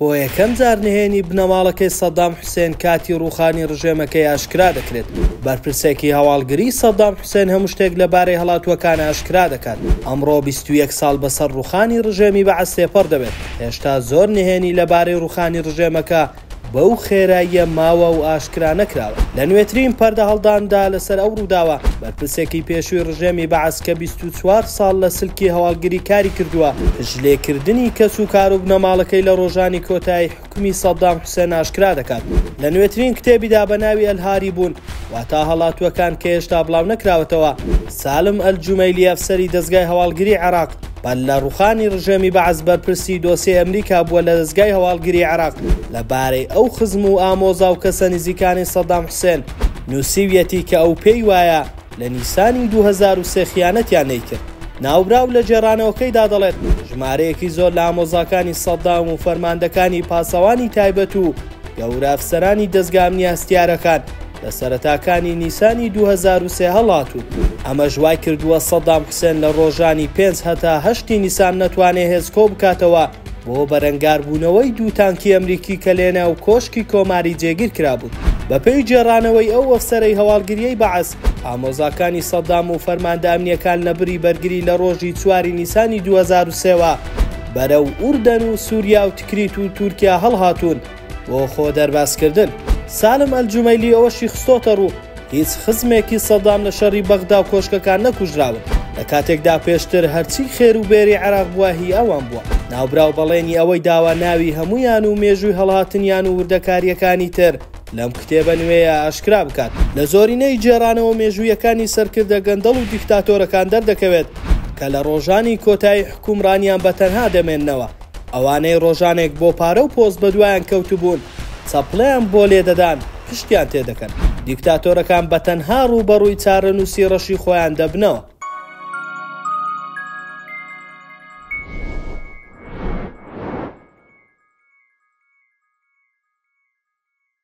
بۆ یەکەم جار نهێنی بنەماڵەکەی سەدام حوسێن کاتی ڕووخانی ڕژێمەکەی ئاشکرا دەکرێت. بەرپرسێکی هەواڵگریی سەدام حوسێن هەموو شتێک لەبارەی هەڵاتووەکان ئاشکرا دەکات. ئەمڕۆ بیست و یەک ساڵ بەسەر ڕووخانی ڕژێمی بەعس تێپەڕ دەبێت، هێشتا زۆر نهێنی لەبارەی ڕووخانی ڕژێمەکە بەو خێراییە ماوە و ئاشکرا نەکراوە. لە نوێترین پەردەهەڵداندا لەسەر ئەو ڕووداوە، بەرپرسێکی پێشووی ڕژێمی بەعس کە بیست چل و چوار ساڵ لە سلکی هەواڵگری کاری کردووە، جلێکردنی کەس و کار و بنەماڵەکەی لە ڕۆژانی کۆتایی حوکمی سەدام حوسێن ئاشکرا دەکات لە نوێترین کتێبیدا بە ناوی ئەلهاریبون واتا هەڵاتووەکان کە هێشتا بڵاونەکراوەتەوە. سالم ئەلجومەیلی ئەفسەری دەزگای هەواڵگری عێراق پەل لە ڕووخانی ڕژێمی بەعس بەرپرسی دۆسیەی ئەمریکا بووە لە دەزگای هەواڵگری عێراق لە بارەی ئەو خزم و ئامۆزا و کەسە نزیکانی سەدام حوسێن نووسیویەتی کە ئەو پێی وایە لە نیسانی دوو هەزار و سێ خیانەتیان نەیکرد. ناوبراو لە گێڕانەوەکەیدا دەڵێت، ژمارەیەکی زۆر لە ئامۆزاکانی سەددام و فەرماندەکانی پاسەوانی تایبەت و گەورە ئەفسەرانی دەزگا ئەمنیاسیتارەکان لە سەرەتاکانی نیسانی دوو هەزار و سێ هەڵاتوون. ئەمەش وایکردووە سەددام حوسێن لە ڕۆژانی پێنج هەتا هەشتی نیسان نەتوانێت هێز کۆبکاتەوە، بۆ بەرەنگاربوونەوەی دوو تانکی ئەمریکی کە لەناو کۆشکی کۆماری جێگیر کرابوون. بەپێی گێڕانەوەی ئەو ئەفسەرەی هەواڵگریی بەعس، ئامۆزاکانی سەدام و فەرماندە ئەمنییەکان لە بری بەرگری لە ڕۆژی چواری نیسانی دوو هەزار و سێ وە بەرەو ئوردەن و سووریا و تکریت و تورکیا هەڵهاتوون، بۆ خۆ دەربازکردن، سالم ئەلجومەیلی ئەوەشی خستۆتەڕوو، هیچ خزمێکی سەدام لە شەڕی بەغدا و کۆشکەکان نەکوژراون، لە کاتێکدا پێشتر هەرچی خێر و بێری عێراق بووە هی ئەوان بووە. ناوبراو بەڵێنی ئەوەی داوە ناوی هەموویان و مێژووی هەڵهاتنیان و وردەکارییەکانی تر لەم کتێبە نوێیە ئاشکرا بکات. لە زۆرینەی گێڕانەوە مێژوویەکانی سەرکردە گەندەڵ و دیکتاتۆرەکان دەردەکەوێت کە لە ڕۆژانی کۆتایی حوکمڕانیان بە تەنها دەمێننەوە. ئەوانەی ڕۆژانێک بۆ پارە و پۆست بەدوایان کەوتبوون، چەپڵەیان بۆ لێدەدان، پشتیان تێدەکەن. دیکتاتۆرەکان بە تەنها ڕووبەڕووی چارەنووسی ڕەشی خۆیان دەبنەوە.